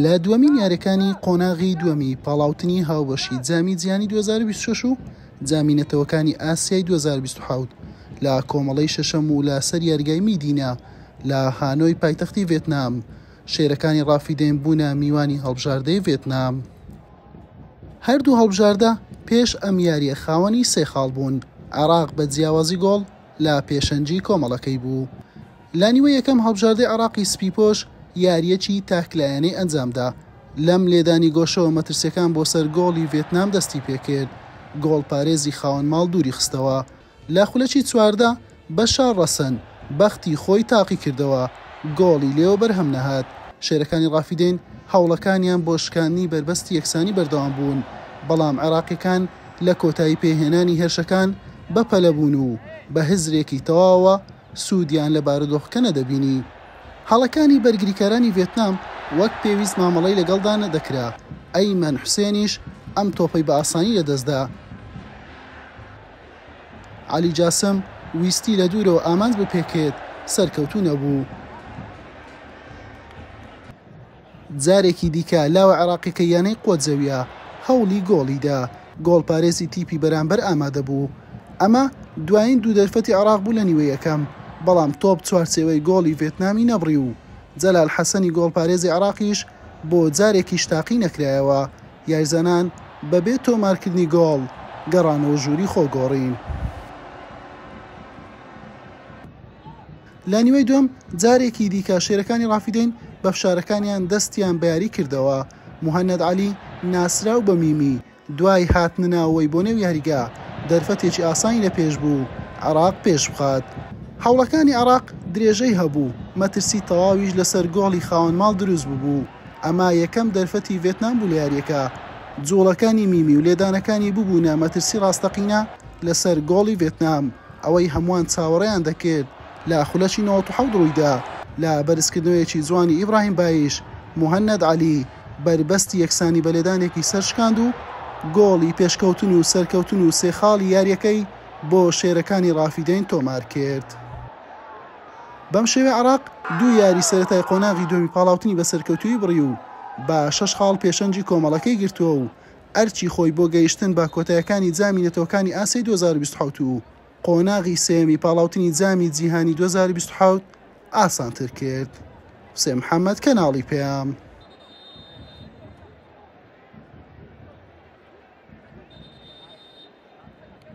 لە دووەمین یاریەکانی قۆناغی دووەمی پاڵاوتنی هاوبەشی جامی جیانی 2026 و جامی نەتەوەکانی ئاسیای 2027 لە کۆمەڵەی شەشەم و لە سەر یارگای میدینە لە هانۆی پایتەختی ڤێتنام شێرەکانی ڕافیدەین بوونە میوانی هەڵبژاردەی ڤێتنام هەردوو هەڵبژاردە پێش ئەم یاریە خاوەنی سێ خاڵ بوون عراق بە جیاوازی گۆڵ لە پێشەنگی کۆمەڵەکەی بوو. لە نیوەی یەکەم هەڵبژاردەی عێراقی سپیپۆش یارییەکی تاکلایەنەی ئەنجامدا، لەم لێدانی گۆشەوە مەترسیەکان بۆ سەر گۆڵی ڤێتنام دەستی پێکرد، گۆڵپارێزی خاوەن ماڵ دووری خستەوە لە خولەکی چواردە، بەشار ڕەسەن بەختی خۆی تاقیکردەوە، گۆڵی لێوە بەرهەم نەهات. شێرەکانی ڕافیدەین هەوڵەکانیان بۆ شکاندنی بەربەستی یەکسانی بەردەوام بوون، بەڵام عێراقیەکان لە کۆتایی پێهێنانی هێرشەکان بەپەلە بوون و بە هزرێکی تەواوەوە سوودیان لە بارودۆخەکە نەدەبینی. هەڵەکانی بەرگریکارانی ڤێتنام وەک پێویست مامەڵەی لەگەڵدا نەدەکرا، ئەیمەن حوسێنیش ئەم تۆپەی بە ئاسانی لەدەستدا. عەلی جاسم ویستی لە دوورەوە ئامانج بپێکێت، سەرکەوتوو نەبوو. جارێکی دیکە لاوە عێراقیەکەی یانەی قۆجەویە هەوڵی گۆڵی دا، گۆڵپارێزی تیپی بەرامبەر ئامادەبوو. ئەمە دوایین دوو دەرفەتی عێراق بوو لە نیوەی یەکەم، بەڵام تۆپ چوارچێوەی گۆڵی ڤێتنامی نەبڕی و جەلال حەسەنی گۆڵپارێزی عێراقیش بۆ جارێکیش تاقی نەکرایەوە، یاریزانان بەبێ تۆمارکردنی گۆڵ گەڕانەوە ژووری خۆگۆڕین. لە نیوەی دووەم جارێکی دیکە شێرەکانی ڕافیدەین بە فشارەکانیان دەستیان بە یاری کردەوە، موهەنەد عەلی ناسراو بە میمی دوای هاتنەناوەوەی بۆ نێو یاریگا دەرفەتێکی ئاسانی لە پێش بوو عێراق پێش بخات، هەوڵەکانی عێراق درێژەی هەبوو، مەترسی تەواویش لەسەر گۆڵی خاوەن ماڵ دروست ببوو، ئەمە یەکەم دەرفەتی ڤێتنام بوو لە یاریەکە، جوڵەکانی میمی و لێدانەکانی ببوونە مەترسی ڕاستەقینە لەسەر گۆڵی ڤێتنام. ئەوەی هەمووان چاوەڕێیان دەکرد لە خولەکی نەوەد و حەوت روویدا، لە بەرزکردنەوەیەکی جوانی ئیبراهیم بایش، موهەنەد عەلی بەربەستی یەکسانی بە لێدانێکی سەرشکاند و گۆڵی پێشکەوتن و سەرکەوتن و سێ خاڵی یارییەکەی بۆ شێرەکانی رافیدەین تۆمارکرد. بەم شێوەیە عێراق دوو یاری سەرەتای قۆناغی دووەمی پاڵاوتنی بە سەرکەوتوویی بڕی و بە شەش خاڵ پێشەنگی کۆمەڵەکەی گرتووە و ئەرکی خۆی بۆ گەیشتن بە کۆتایەکانی جامی نەتەوەکانی ئاسیای دوو هەزار و بیست و حەوت و قۆناغی سێیەمی پاڵاوتنی جامی جیهانی دوو هەزار و بیست و حەوت ئاسانتر کرد. حوسێن محەمەد، کەناڵی پەیام.